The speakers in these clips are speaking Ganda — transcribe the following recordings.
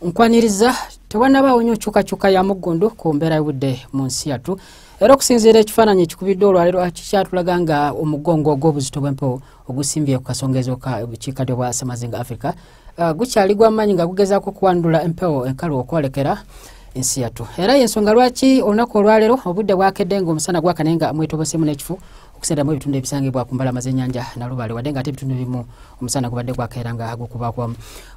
nkwaniriza tewanabaawo nyo nkyukakyuka ya muggundu ku mbeera y'obudde mu nsi yattu era okusinziira ekifaananyi ekikubidde olwaliro kikyatulaga nga omugongo ogw'obuzito bw'empewo ogusimbye ku kasonga ezooka bukiikaddyo bwa semazinga africa uh, gukyali gw'amaanyi nga gugezaako okuwandula empewo enkalu okwolekera ensi yattu era y'ensonga lwaki olunaku olwaleero obudde bwakedde ng'omusana gwakane nga mwetobosemu n'ekifu okusendamu ebitundu ebisangibwa ku mbalama z'ennyanja nalubaale wadde nga ate ebitundu ebimu omusana gubadde gwakeera nga gukubakwa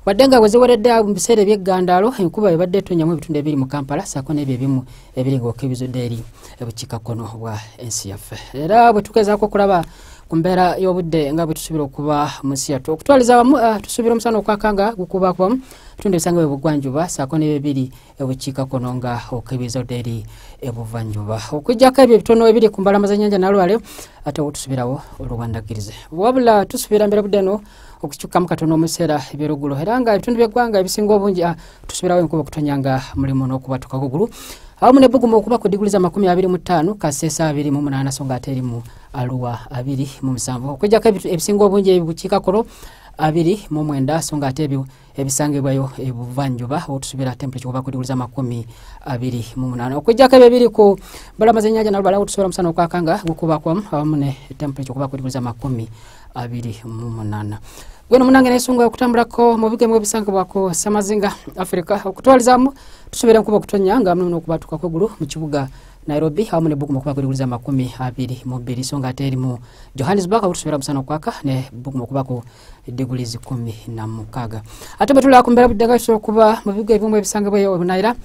wadde nga weziweredde mu biseera ebyeggandaalo enkuba ebadde etonyamu ebitundu ebiri mu kampala saako n'ebyo ebimu ebiri nga okebizudde eri ebukiikakkono bwa ensi yaffe era bwe tugezaako okulaba ku mbeera y'obudde nga bwe tusuubira okuba mu nsi yattu okutwaliza wamu ah, tusuubira omusana okwaka nga gukubakwa ebitundu ebisangibwa ebugwanjuba saako n'ebyo ebiri ebukiikakkono nga okebeza odde eri ebuvanjuba okujjako ebyo ebitono ebiri ku mbalama z'ennyanja nalwale ate obutusubirawo olubandagirize wabula tusubira mbeera budde no okukyukamu katono omuseera ebyolugulo era nga ebitundu byeggwanga ebisinga obungi ah, tusubirawo enkuba okutonya nga mulimu n'okubatuka kugulu awamu nebuguma okuba ku diguli za makumi abiri mu ttaano kasesa abiri mu munaana so nga ate eri mu aluwa abiri mu musanvu okujjako ebisinga obungi ebibukiikakkono abiri mu mwenda so nga ate ebyo ebisangibwayo ebuvanjuba otusubira temperature kuba ku diguli z'amakumi abiri mu munaana okujjako ebyo ebiri ku balama z'ennyanja nabo balawo otusubira omusana okwakanga gukubakwamu awamu ne temperature kuba ku diguli z'amakumi abiri mu munaana gweno munange nesunga okutambulako mu bigemu ebisangibwako samazinga afirika okutwalizamu tusubira nkuba okutonya nga muno okubatuka kwegulu mu kibuga nairobi awamu ne buguma okuba kuliwuliza amakumi abiri mu bbiri so nga ate erimu johannesburg okutusubira musana okwaka ne buguma okubako diguli zikumi na mukaga ate bwetulaba ku mbeera budde nga kisobola okuba mu bibuga ebimu ebisangibwayo ebunayira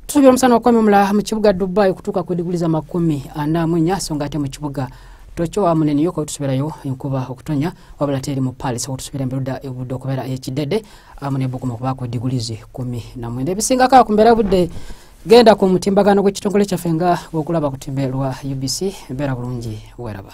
tusuubira omusana okwememula mu kibuga dubai okutuuka ku diguli za makumi ana mu nnya so nga ate mu kibuga tokyo wa munene yoko tusubirayo enkuba okutonya wabula teri mu palis okutusubira emberuda ebudde okubeera ekidede amu nebuguma okubaako diguli zikumi na mwenda ebisingako ku mbeera budde genda ku mutimbagano gw'ekitongole kyaffe nga okulaba ku timbe lwa ubc mbeera bulungi weraba